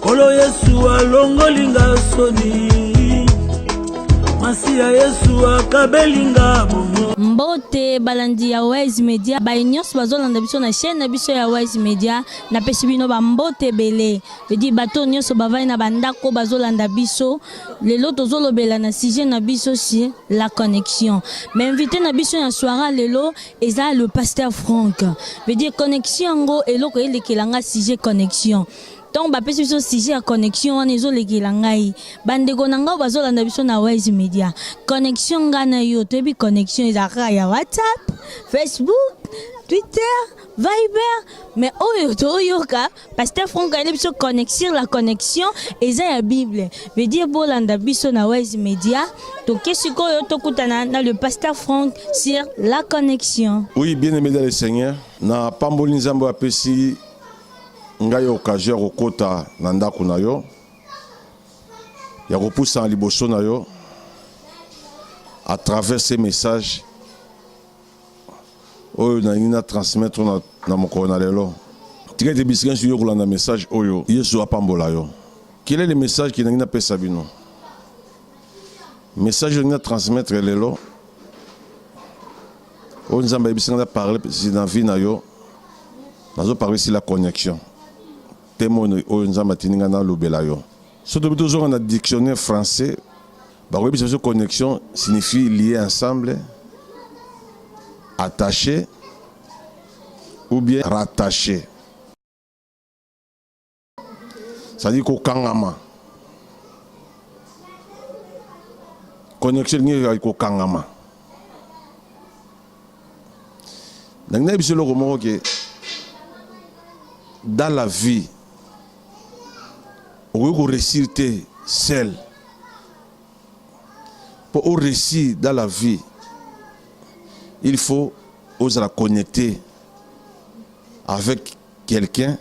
Kolo Yesu alongolinga soni masiya yesu akabelinga bongo mbote balandi ya wise media baye nyonso bazolanda biso na chaîne na biso ya wise media napesi bino bambote ebele edi bato nyonso bavandi na bandako bazolanda biso lelo tozolobela na sujet na biso si la connexion mais invité na biso ya soira lelo eza le pasteur Franck veut dire connexion yango eloko elekela nga sujet connexion ntango bapesi biso sujet ya connexion wana ezolekela ngai bandeko na ngai bazolanda biso na wise media connexion ngai na yo toyebi connexion ezalaka ya whatsapp facebook twitter viber mais oyo toyoka Pasteur Franck ayeli biso connexion la connexion eza ya Bible. Veut dire bolanda biso na Wise Media. Toke sikoyo tokutana na le pasteur Franck sur la connexion. Oui, bien aimé dans le Seigneur, na pamboli Nzambe apesi ngai occasion ya kokota na ndako na yo ya kopusana liboso na yo à travers ces messages oyo nalingi na transmettre na, na mokolo na lelo tika ete bisika nyonso yo kolanda message oyo yesu apambola yo quel est le message ke nalingi napesa bino message oyo nalingi na transmettre lelo oyo nzambe ayebisi ngai na parle na vie na yo nazoparle si la connexion temo oyo nzambe atindi ngai nalobela yo Soki tobi tozonga na dictionnaire français, bakoyebisa biso connexion signifie lier ensemble, attaché ou bien rattaché. C'est-à-dire kokangama. Connexion elingi kokangama. nalingi nayebisa eloko moko ke dans la vie okoki koresir te sel mpo oresir dans la vie il faut ozala connecté avec quelqu'un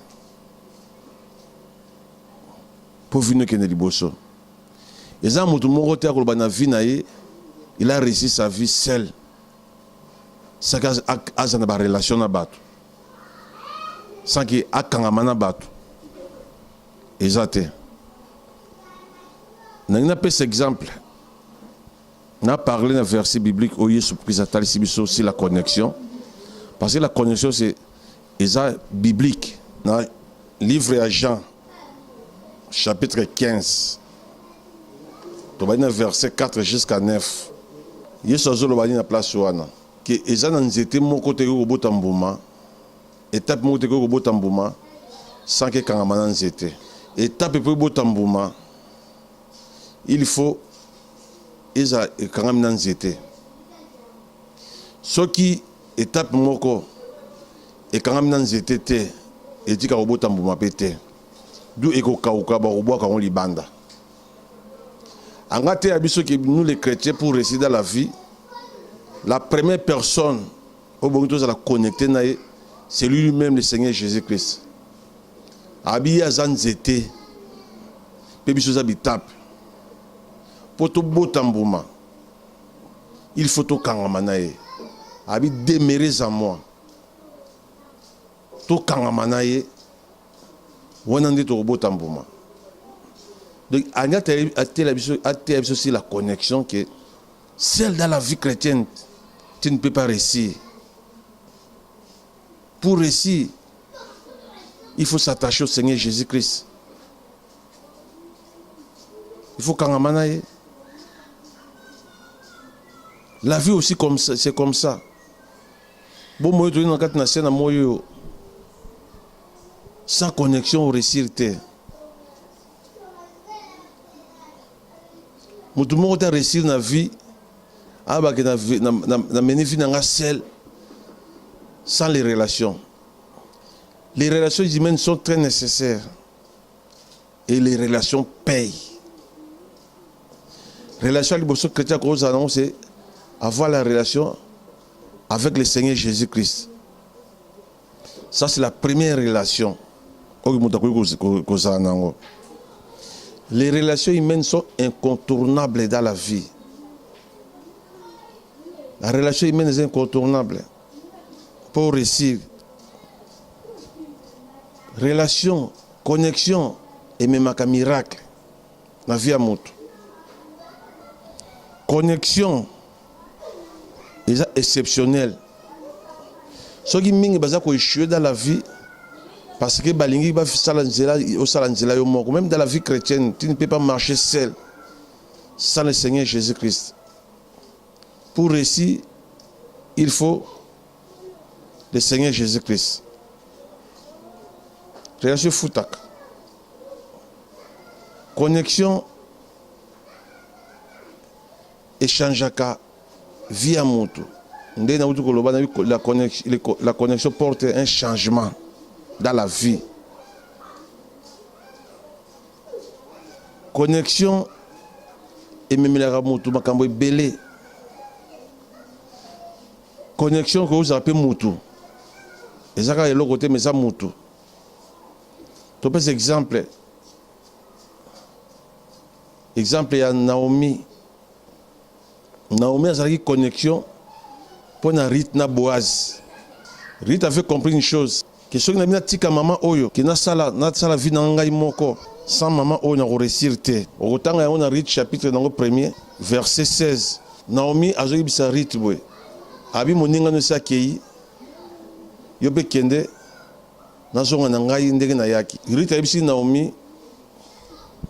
mpo vino ekende liboso eza moto moko te akoloba na vie na ye il a réussi sa vie seul saki aza na barelation na bato saki akangama na bato eza te nangi napesa exemple na parle na verset biblique oyo yesu krist atalisi biso si la connexion parce que la connexion c'est Eza biblique na livre ya Jean chapitre 15 tobandi na verset 4 jusqu'à 9 yesu azoloba nini na place wana ke eza na nzete moko te ekoki kobota mbuma etape moko te ekoki kobota mbuma sanke ekangama na nzete etape mpo ebota mbuma il faut eza ekangami na nzete Soki etape moko ekangami na nzete te, etika kobota mbuma mpe te, d'où ekokauka, bakobwaka yango libanda. Anga ateya biso ke nous les chretiens pour réussir dans la vie, la première personne oyo bongi tozala connecte na ye c'est lui-même le Seigneur Jésus-Christ. Abi ye aza nzete mpe biso eza bitape mpo tobota mbuma il faut tokangama na ye abi demeurez en moi tokangama na ye wana nde tokobota mbuma donc ani ateya biso ateya biso si la connexion que seul dans la vie chrétienne tu ne peux pas réussir pour réussir il faut s'attacher au seigneur jésus christ il faut kangama na ye la vie aussi comme ça, c'est comme ça bomoi tozali na kati na se na moi oyo sans connexion oresir te motu moko te aresir na vie abake nameni vie na nga sel sans les relations les relations humaines sont très nécessaires et les relations payent relation ya liboso chrétien akozala nango c'est avoir la relation avec le seigneur jésus christ ça c'est la première relation oyo moto akoki kozala na yango les relations humaines sont incontournables dans la vie la relation humaine eza incontournable pour réussir relation connexion ememaka miracle na vie ya moto connexion eza exceptionnel soki mingi baza koechue dans la vie parce que balingi basala nzela osala nzela yo moko même dans la vie chrétienne tu ne peux pas marcher seul sans le seigneur jésus christ Pour reussir il faut le Seigneur Jesus Christ. Relation efutaka. Connexion echangeaka vie ya moto nde nauti koloba na la connexion, la connexion porte un changement dans la vie Connexion ememelaka moto makambo ebele. Connexion ekoki kozala mpe moto, eza kaka eloko te, mais eza moto. Topesa exemple, exemple ya Naomi. Naomi azalaki connexion mpo na Ruth na Boaz. Ruth avait compris une chose que soki nabi natika mama oyo ke nasala nasala vie na ngai moko sans mama oyo nakoresir te. Okotanga yango na Ruth chapitre nango premier verset 16. Naomi azoyebisa Ruth boye abi moninga no esi akei yo mpe kende Nazonga na ngai ndenge nayaki. Ruth ayebisi Naomi,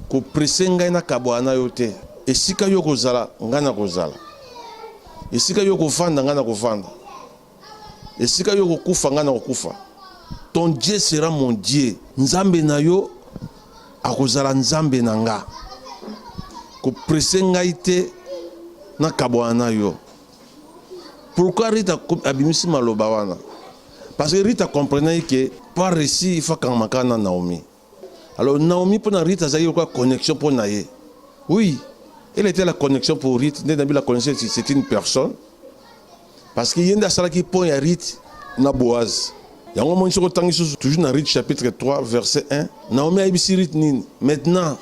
koprese ngai nakabwana na yo te. Esika yo kozala, ngai nakozala. Esika yo kovanda, ngai nakovanda. Esika yo kokufa, ngai nakokufa. Ton Dieu sera mon Dieu. Nzambe na yo akozala nzambe na nga koprese ngai te nakabwana na yo Pourquoi Rita abimisi maloba wana? Parce que Rita comprenait que pour réussir il faut kangamaka na Naomi. Alors Naomi pour na Rita azali lokola connexion pour na ye. Oui, elle était la connexion pour Rita, nde nabi la connaissance c'est une personne. Parce que yende asalaki pont ya Rita na Boaz. Yango moni soki otangi susu toujours na Rita chapitre 3 verset 1, Naomi ayebisi Rita nini? Maintenant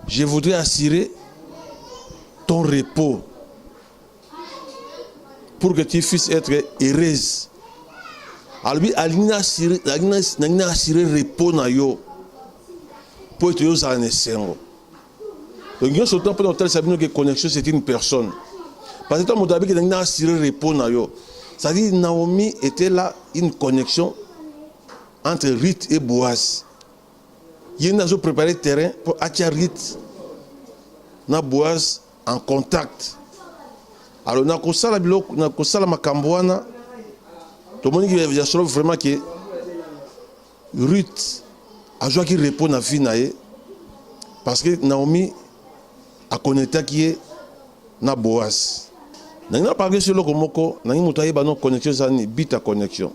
Je voudrais assurer ton repos pour que tu puisses être heureuse. alobi alingi na assurer repos na yo mpo ete ozala na esengo donc nyonso temps mpona kotalisa bino ke connexion c'est une personne parce que to moto abiki nangi na assurer repos na yo c'est-à-dire naomi était là une connexion entre rite et boise ye nde azo prepare terrain mpo atia rite na boise en contact alors nakosala biloko nakosala makambo wana tomoni ya solo vraiment ke rite azwaki repos na vie na ye parce que naomi akonetaki ye na boise nangi naparle so eloko moko nangi moto ayeba no connexion eza nini bita connexion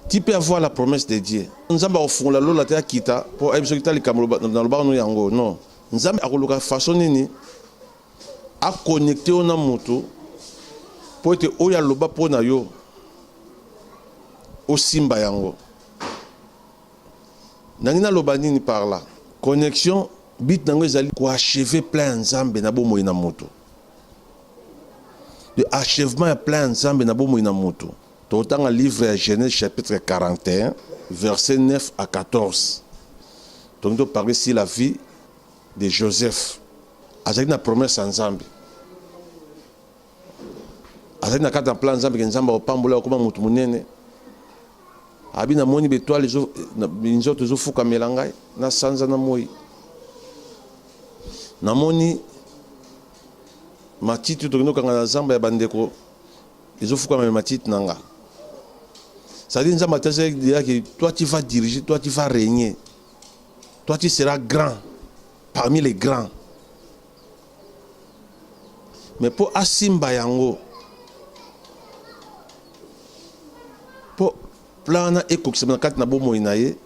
Tu peux avoir la promesse de Dieu. Nzambe akofungola lola te akita po ayebi soki ta likambo na lobaka no yango. Non. Nzambe akoluka façon nini a connecter yo na moto po ete oyo aloba po na yo osimba yango. Nangi naloba nini par là? Connexion but nango ezali ko achever plein ya Nzambe na bomoi na moto. Le achèvement ya plein ya Nzambe na bomoi na moto. Totanga livre ya Genèse chapitre 41 verset 9 à 14. Tolingi toparle si la vie de Joseph. Azalaki na promesse ya Nzambe. Azalaki na kati ya plan Nzambe ke Nzambe akopambola okoma moto monene. Abi namoni betoile nzoto ezofukamela ngai na sanza na moi. Namoni matiti tokende kokanga na zamba ya bandeko ezo fuka meme matite na nga c'est-à-dire nzambe atasaki deja ke toi tu vas diriger toi tu vas régner toi tu seras grand parmi les grands mais mpo asimba yango mpo plan wana ekokisama na kati na bomoi na ye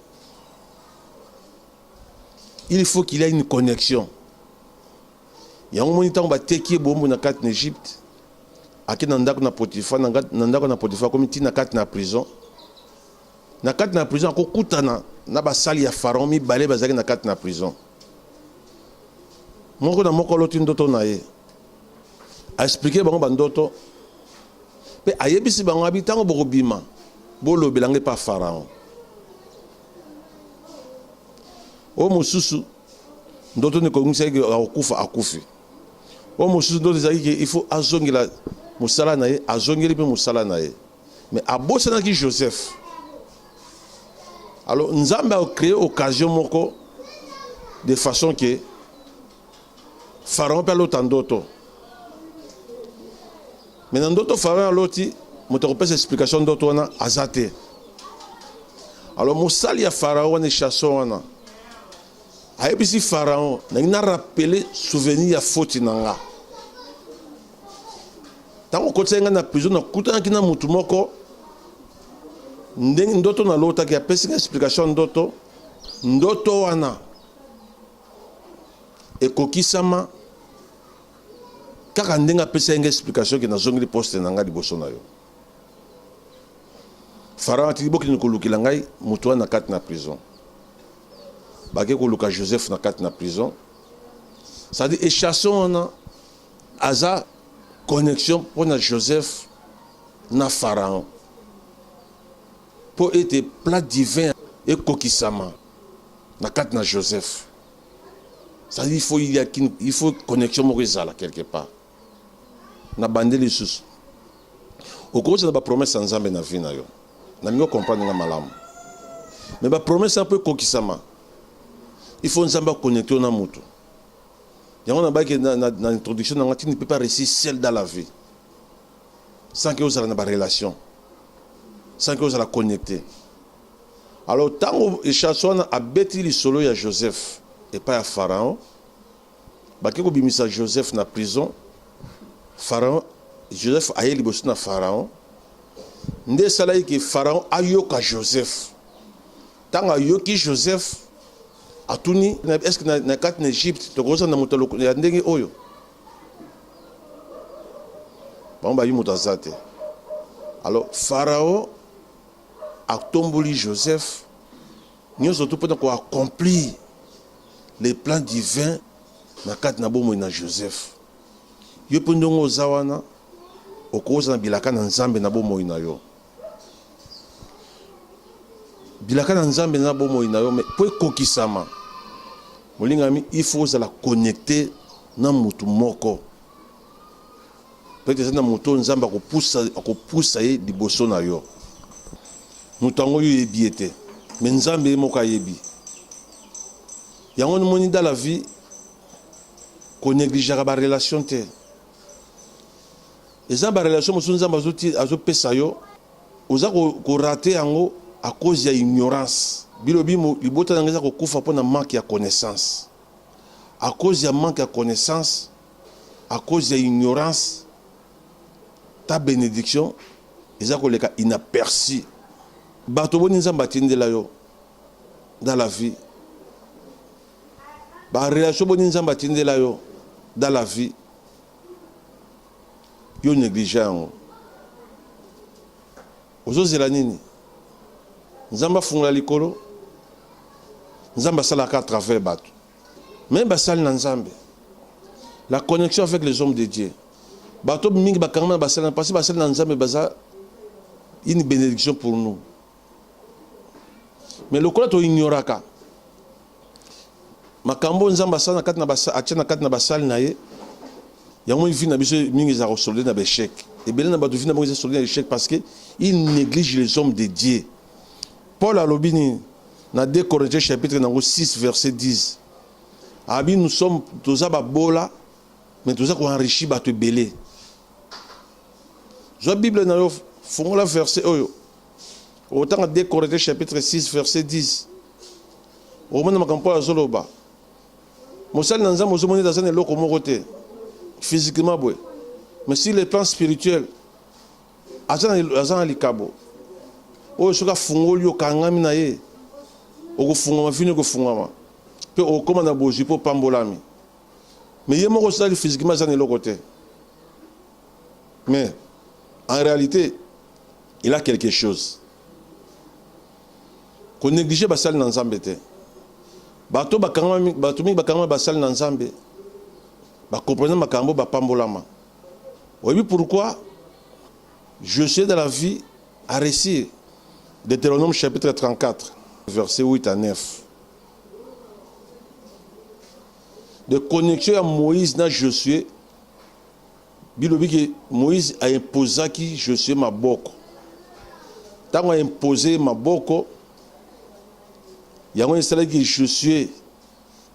il faut qu'il y a une connexion Yango moni ntango bateki ye boombo na kati na Egypte, ake na ndako na Potifa, na ndako na Potifa akomi ti na kati na prison. Na kati na prison akokutana na basali ya Pharaon mibale bazalaki na kati na prison. Moko na moko aloti ndoto na ye, aexplike bango bandoto mpe ayebisi bango abi ntango bokobima bolobela ngai mpa Pharaon. Oyo mosusu ndoto nde koyebisaki akokufa akufi oyo mosusu ndoto ezalaki ke il faut azongela mosala na ye azongeli mpe mosala na ye mais abosanaki joseph alors nzambe acree occasion moko de façon ke pharaon mpe alota ndoto Mais na ndoto Pharaon aloti moto akopesa explication ndoto wana aza te. Alors mosali ya Pharaon wana chasseur wana ayebisi Pharaon nangi na rappeler souvenir ya faute na nga ntango okotisaki ngai na prison nakutanaki na motu moko ndenge ndoto nalotaki apesi ngai explication ndoto ndoto wana ekokisama kaka ndenge apesaki nga explication ke nazongeli poste na nga liboso na yo farao atiki bokende kolukela ngai moto wana na kati na prison bake koluka joseph na kati na prison cestadi echasson wana aza connexion mpo na joseph na farao mpo ete plat divin ekokisama na kati na joseph ça il faut il y a il faut connexion moko ezala quelque part na bande lisusu okoki na ba promesse ya nzambe na vie na yo na mingo comprendre nga malamu mais ba promesse ya mpo ekokisama il faut nzambe aconnecte yo na motu yango nabaki na, na, na introduction na nga tu ne peux pas réussir seul dans la vie sans que ozala na barelation sans que ozala connecte Alors tango Echance wana abeti lisolo ya Joseph epai ya Pharaon, bake kobimisa Joseph na prison. Pharaon, Joseph aye liboso na Pharaon, nde esalaki ke Pharaon ayoka Joseph. Tango ayoki Joseph, atuni est-ce que na, na kati na Egypte tokozala na moto ya ndenge oyo? bango bayebi moto aza te alors farao atomboli Joseph nyonso tu mpo na ko accomplir le plan divin na kati na bomoi na Joseph. Yo mpe ndenge oza wana okozala na bilaka na Nzambe na bomoi na yo. bilaka na nzambe na bomoi na yo mpo ekokisama molingami il faut ozala connecte na motu moko Peut-être eza na moto Nzambe akopusa akopusa ye liboso na yo. Moto yango yo oyebi ye te, me Nzambe ye moko ayebi. Yango nimoni dans la vie konegligeaka barelation te. Eza na barelation mosusu Nzambe azopesa yo, oza korate yango à cause ya ignorance. Bilobi libota na ngai eza kokufa mpo na manque ya connaissance. À cause ya manque ya connaissance, à cause ya ignorance ta benediction eza koleka inaperçu bato boni nzambe atindela yo dans la vie barelation boni nzambe atindela yo dans la vie yo néglige yango ozozela nini nzambe afungola likolo nzambe asalaka à travers bato Meme basali na Nzambe, la connexion avec les hommes de Dieu, bato mingi bakangama na basali, parce que basali na Nzambe baza une bénédiction pour nous. Mais lokola to ignoraka makambo Nzambe asala na kati na basali, atia na kati na basali na ye, yango vie na biso mingi eza kosolde na ba échec. Ebele na bato vie na bango eza solde na échec parce que ils négligent les hommes de Dieu. Paul alobi nini na 2 Corinthiens chapitre nango 6 verset 10 abi nous sommes toza babola mais toza ko enrichi bato ebele zwa bible na yo fongola verset oyo otanga 2 Corinthiens chapitre 6 verset 10 omona makambo Paul azoloba mosali na nzambe ozomoni ete aza na eloko moko te physiquement boye mais sur le plan spirituel aza na, aza na likabo oyo soki afungoli okangami na ye okofungwama vino ekofungwama mpe okokoma na bozwi mpo opambolami me ye moko osalaki physiquement aza na eloko te mais en réalité il a quelque chose konéglige basali na nzambe te bato mingi bakangama basali na nzambe bakomprene makambo bapambolama Oyebi pourquoi Josué dans la vie a réussi Deutéronome chapitre 34 verset 8 à 9. De connexion à Moïse na Josué bilobi que Moïse a imposé qui Josué maboko. Tango a imposé maboko yango esalaki Josué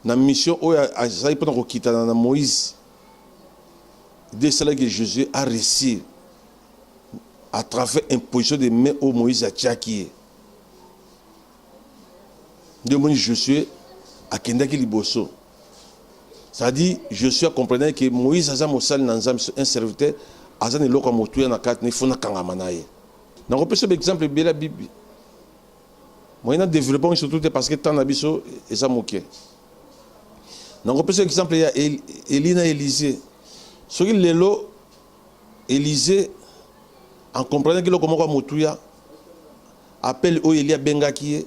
na mission oyo azali mpona kokitana na Moïse Dieu esala que Josué a réussir à travers imposition de main oyo Moïse atiaki ye nde omoni Josué akendaki liboso c'est-à-dire Josué akomprenaki que Moïse aza mosali na Nzambe un serviteur aza na eloko ya motuya na kati na ifo nakangama na ye nakopesa exemple ebele ya bibi Moi na developpe yango surtout te parce que temps na biso eza moke. Nakopesa exemple ya Elie na Elise. Soki lelo Elise en comprenant eloko moko ya motuya appel oyo Elie abengaki ye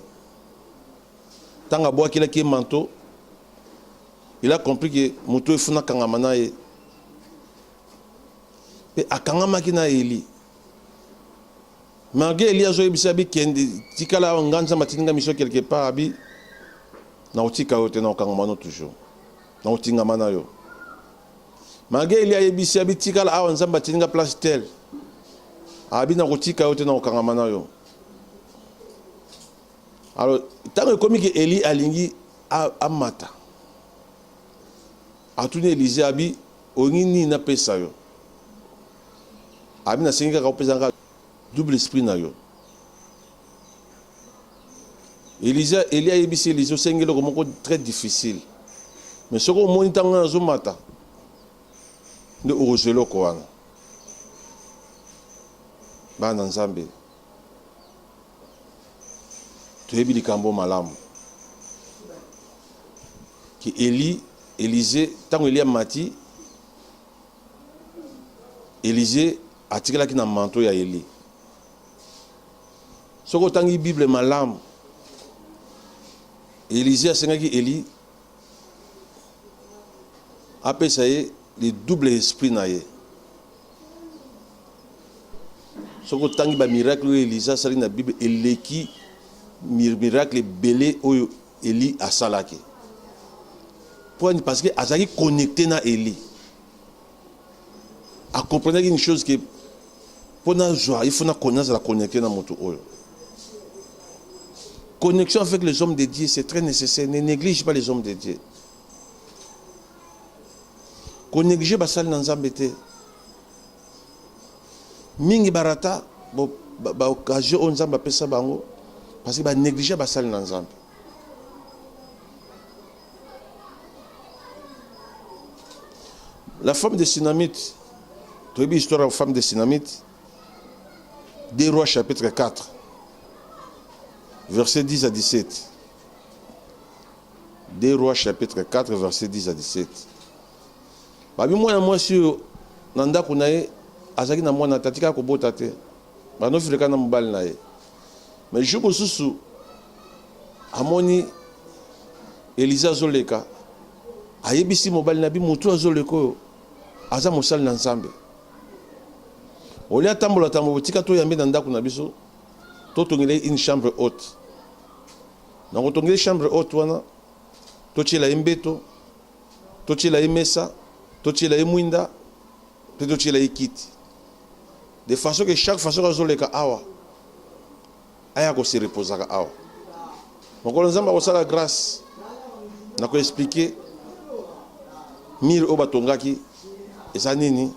ntango abwakelaki ye manto il a compris que moto oyo efuna akangama na ye mpe akangamaki na Elie Marge Elie azo yebisa bi kende tikala awa nga nzambe atindi nga miso quelque part abi na otika yo te na okangama no toujours na otingama na yo Marge Elie ayebisi abi tikala awa nzambe atindi nga place tel abi na kotika yo te na okangama na yo alors ntango ekomi ke Elie alingi amata atuni Elise abi olingi nini napesa yo abi nasengi kaka opesa nga Double esprit na yo. Elisa, Elie ayebisi Elisa osengi eloko moko très difficile. Mais soki omoni ntango wana azomata nde okozwa eloko wana. Bana Nzambe, toyebi likambo malamu ke Eli Elize ntango Eli amati Elize Atikalaki na manteau ya Eli. Soki otangi Bible malamu, Elize asengaki Eli apesa ye le double esprit na ye. soki otangi bamiracle oyo elisa asali na bible eleki miracle ebele oyo eli asalaki pwani parce que azalaki connecte na eli a comprenaki une chose que mpo nazwa il faut nazala connecte na moto oyo connexion avec les hommes de Dieu c'est très nécessaire ne néglige pas les hommes de Dieu konéglige basali na nzambe te mingi barata baoccasion oyo nzambe apesa bango parce que banéglige basali na nzambe La femme de Sinamite, tu as l'histoire de la femme de Sinamite, des rois chapitre 4, verset 10 à 17. Des rois chapitre 4, verset 10 à 17. Babi mwana mwasi oyo na ndako na ye azalaki na mwana te atikaka kobota te banofileka na mobali na ye mais jour mosusu amoni elize azoleka ayebisi mobali na bi motu azoleka oyo aza mosali na nzambe olie atambola tambola botika toyambe na ndako na biso totongele une chambre haute na kotongele chambre haute wana totyela ye mbeto totyela ye mesa totyela ye mwinda mpe totyela ye kiti De façon que chaque fois soki azoleka awa aya ko se reposaka awa mokolo nzambe akosala grâce na ko expliquer mire oyo batongaki eza nini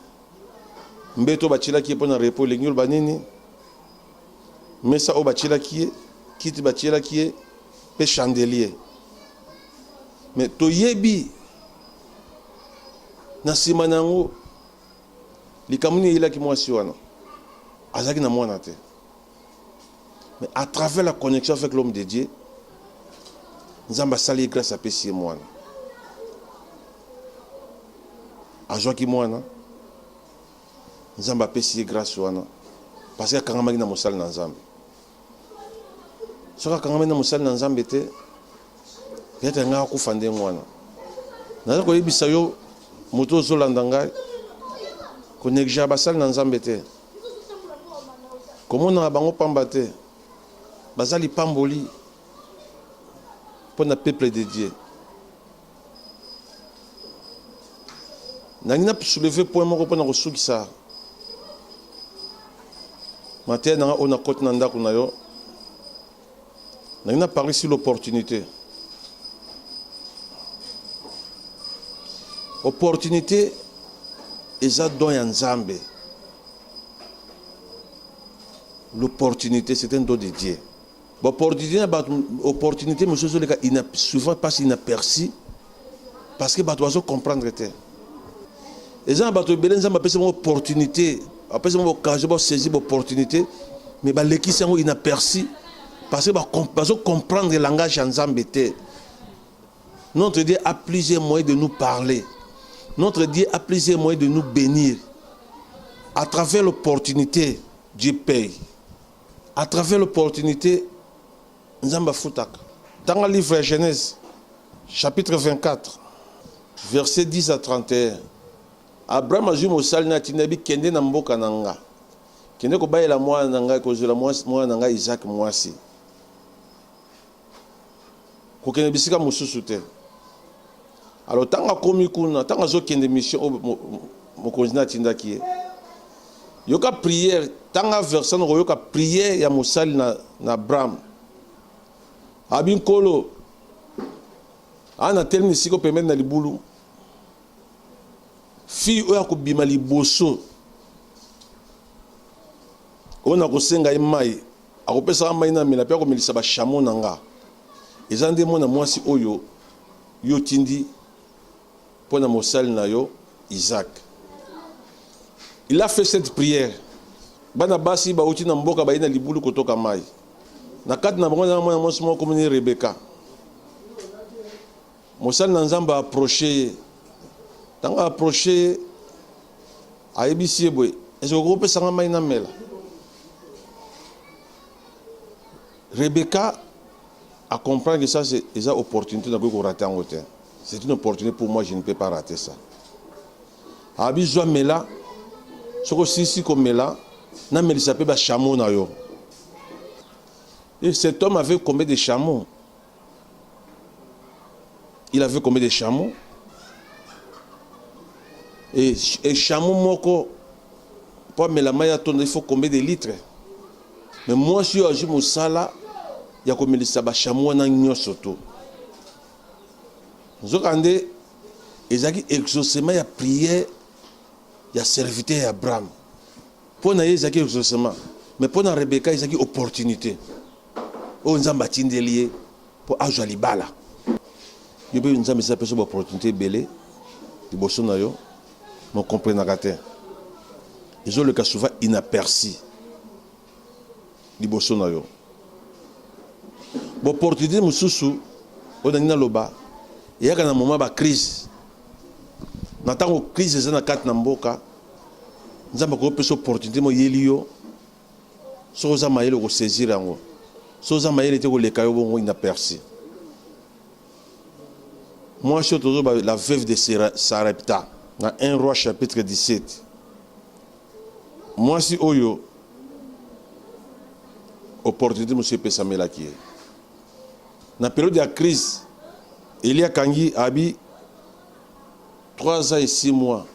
mbeto batyelaki ye mpo na repo elingi oloba nini mesa oyo batyelaki ye kiti batyelaki ye mpe chandelier me toyebi na nsima na yango Likambo nini eyelaki mwasi wana? Azalaki na mwana te. Mais à travers la connexion avec l'homme de Dieu, Nzambe asali ye grâce apesi ye mwana. Azwaki mwana, Nzambe apesi ye grâce wana parce que akangamaki na mosali na Nzambe. soki akangami na mosali na nzambe te yata ya ngai akufa ndenge wana naza koyebisa yo moto ozolanda ngai konegligea basali na nzambe te komonaka bango pamba te baza lipamboli mpo na peuple de dieu nangi na souleve point moko mpona kosukisa mateya nanga oyo nakoti na ndako na yo nangi na parle sur l'opportunité opportunité eza don ya nzambe l'opportunité c'est un don de dieu Ba opportunité na bato opportunité mosusu ezoleka souvent passe inaperçu parce que bato bazo comprendre te eza na bato ebele nzambe apesi bango opportunité apesi bango occasion basaisir baopportunité mais balekisi yango inaperçu parce que bazo comprendre langage ya nzambe te notre dieu a plusieurs moyens de nous parler notre dieu a plusieurs moyens de nous bénir à travers l'opportunité dieu paye A travers l'opportunite nzambe afutaka tanga livre ya genèse chapitre 24 verset 10 à 31 abraham azwi mosali na atinda yebi kende na mboka na nga kende kobalela mwana na ngai kozwela mwana na ngai isaac mwasi kokende bisika mosusu te alo ntango akomi kuna ntango azokende mission oyo mokonzi na atindaki ye yoka priere ntanga versan okoyoka priere ya mosali na, na abraham abi nkolo aa natelemi esika oyo pembeni na libulu fille oyo akobima liboso oyo nakosenga ye mai Akopesa nga mai namela mpe akomelisa bashamo na nga. Eza nde mwana mwasi oyo yo otindi mpo na mosali na yo Isaac. Il a fait cette prière. Bana basi bauti na mboka baye na libulu kotoka mai. Na kati na bango na mwana mwasi moko komini Rebeka. Mosali na Nzambe a approcher ye. Ntango a approcher ye, ayebisi ye boye, est-ce que okoki kopesa ngai mai namela? Rebecca a comprendre que ça c'est eza opportunité nakoki korate yango te. C'est une opportunité pour moi, je ne peux pas rater ça. Abi zwa mela soki osilisi komela namelisa mpe bachameau na yo. Et cet homme avait combien de chameaux? il avait combien de chameaux et, et chameau moko mpo amela mai atondo il faut combien de litres mais mwasi oyo azwi mosala ya komelisa bashamo wana nyonso to nzokande ezalaki exaucement ya prière ya serviteur ya abraham mpo na ye ezalaki exaucement mais mpo na rebeka ezalaki opportunité oyo nzambe atindeli ye mpo azwa libala yo mpe nzambe esi apesa baopportunité ebele liboso na yo mokomprenaka te ezoleka souvent inaperci liboso na yo baopportunité mosusu oyo nangi naloba eyaka na moma bacrise na ntango crise eza na kati na mboka nzambe akopesa opportunité moyeli yo soki oza mayele oko saisir yango soki oza mayele te koleka yo bongo inaperci mwasi oyo tozoba la veuve de sarepta na 1 roi chapitre 17 mwasi oyo opportunité mosusu epesamelaki ye na periode ya crise eli akangi abi 3 ans et 6 mois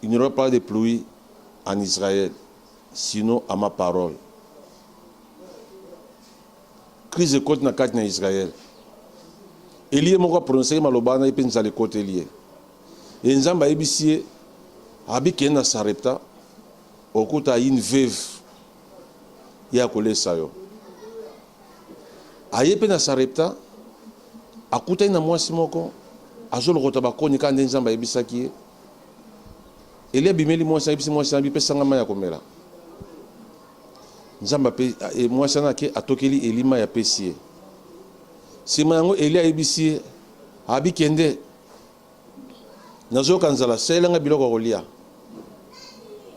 il n'y aura pas de pluie en Israël sinon à ma parole crise ekoti na kati na Israël elie moko aprononcaki maloba wana ye mpe nzala ekoteli ye ye nzambe ayebisi ye abikende na sarepta okuta une veuve ye akolesa yo aye mpe na sarepta akutani na mwasi moko azolokota bakoni kaka nde nzambe ayebisaki ye Elia abimeli mwasi, ayebisi mwasi wana, bipesa ngai mai ya komela. Nzambe ape, e, mwasi wana ake atokeli Eli mai apesi ye. Sima yango Elia ayebisi ye, abikende, nazoyoka nzala, salela ngai biloko ya kolia.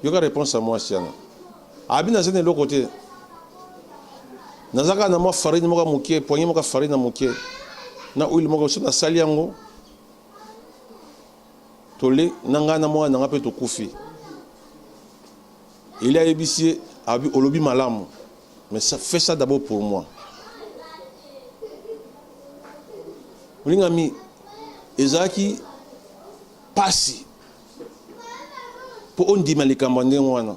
Yoka reponse ya mwasi wana, abi naza na eloko te, naza kaka na mwa farine moko ya moke, poignee moko ya farine ya moke na huile moko, so nasali yango tole na ngai na mwana na ngai mpe tokufi eli ayebisi ye abi olobi malamu mais ça, fais ça d'abord pour moi olingami ezalaki mpasi mpo ondima likambo ya ndenge wana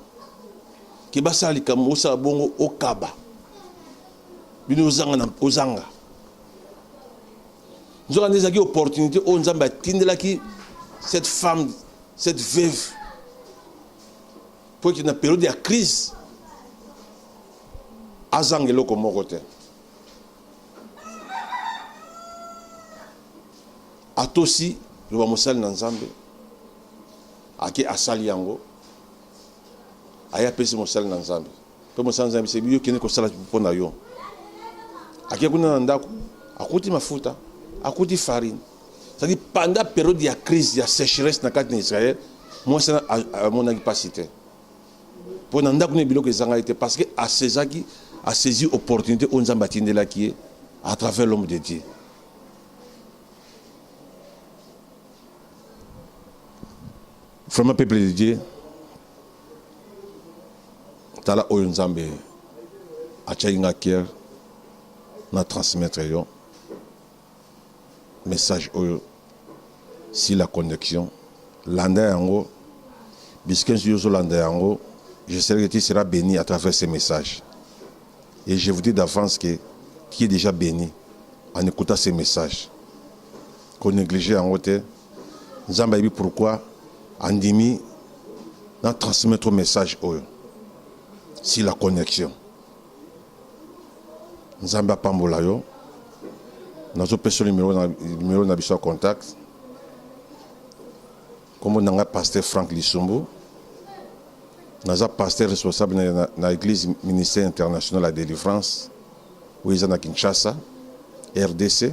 ke basala likambo osala bongo okaba bino ozanga na ozanga Nzokande ezalaki opportunité oyo Nzambe atindelaki cette femme, cette veuve, mpo ete na periode ya crise azanga eloko moko te. Atosi loba mosali na Nzambe ake asali yango aye apesi mosali na Nzambe, mpe mosali na Nzambe ayebi yo kende kosala mpo na yo. Ake kuna na ndako, akuti mafuta, akuti farine. C'est-à-dire pendant période ya crise ya sécheresse na kati na Israël, mwasi wana amonaki mpasi te mpo na ndako na biloko ezangaki te parce que asezaki asaisi opportunité oyo Nzambe atindelaki ye à travers l'homme de Dieu. Vraiment peuple de Dieu tala oyo nzambe atiaki nga kier na transmettre yo message oyo si la connexion landa yango biskensi yo ozolanda yango je sais que tu seras béni à travers ces messages et je vous dis d'avance que tu es déjà béni en écoutant ces messages qu'on néglige yango te Nzambe ayebi pourquoi andimi na transmettre message oyo si la connexion. Nzambe apambola yo. Nazopesa numero na numero na biso contact. Kombo na ngai pasteur Frank Lisumbu. Naza pasteur responsable na, na, na église ministère international ya délivrance oyo eza na Kinshasa, RDC.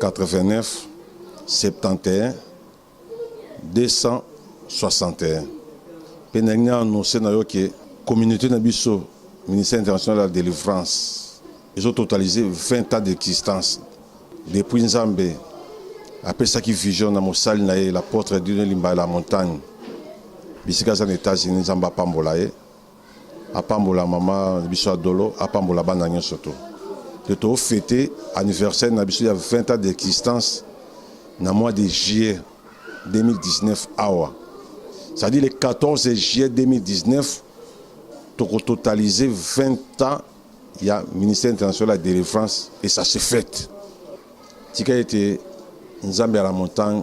89 71 261 pe nalingi na annonce na yo ke communaute na biso ministère international ya delivrance ezo totalise 20 ans d'existence depuis nzambe apesaki vision na mosali na ye l'apôtre Dieudonne Limbaya la montagne bisika aza na Etats-Unis nzambe apambola ye apambola mama biso ya dolo apambola bana nyonso to te tofete anniversaire na biso ya 20 ans d'existence na mois de juillet 2019 awa c'est-à-dire le 14 juillet 2019 tokototalize 20 ans ya ministère international ya délivrance et ça se fête tika ete nzambe ya la montagne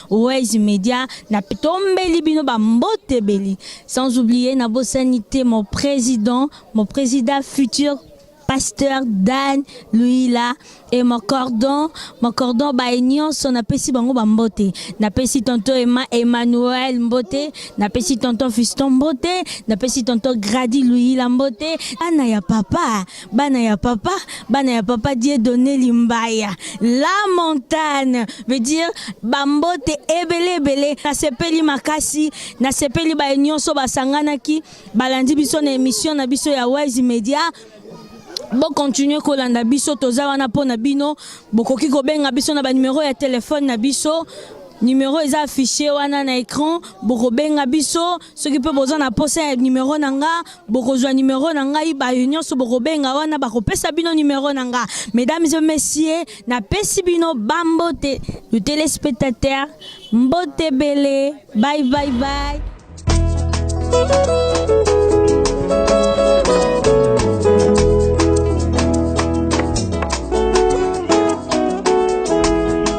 Wise Media na tombeli bino ba mbotebeli sans oublier na bosani te mon président mon président futur pasteur Dan Luila et mon cordon mon cordon ba nyonso napesi bango ba mbote napesi tonton Emma Emmanuel mbote napesi tonton Fiston mbote napesi tonton Grady Luila mbote ana ya papa bana ya papa bana ya papa die donne limbaya la montagne veut dire bambote ebele ebele nasepeli makasi nasepeli baye nyonso basanganaki balandi biso na emission na biso ya wise media bokontinue kolanda biso toza wana mpo na bino bokoki kobenga biso na banimero ya telefone na biso numero eza affiché wana na écran bokobenga biso soki mpe boza na posa ya numero na nga bokozwa numero na ngai bayo nyonso bokobenga wana bakopesa bino numero na nga mesdames et messieurs napesi bino bambote le téléspectateur mbote bele bye bye bye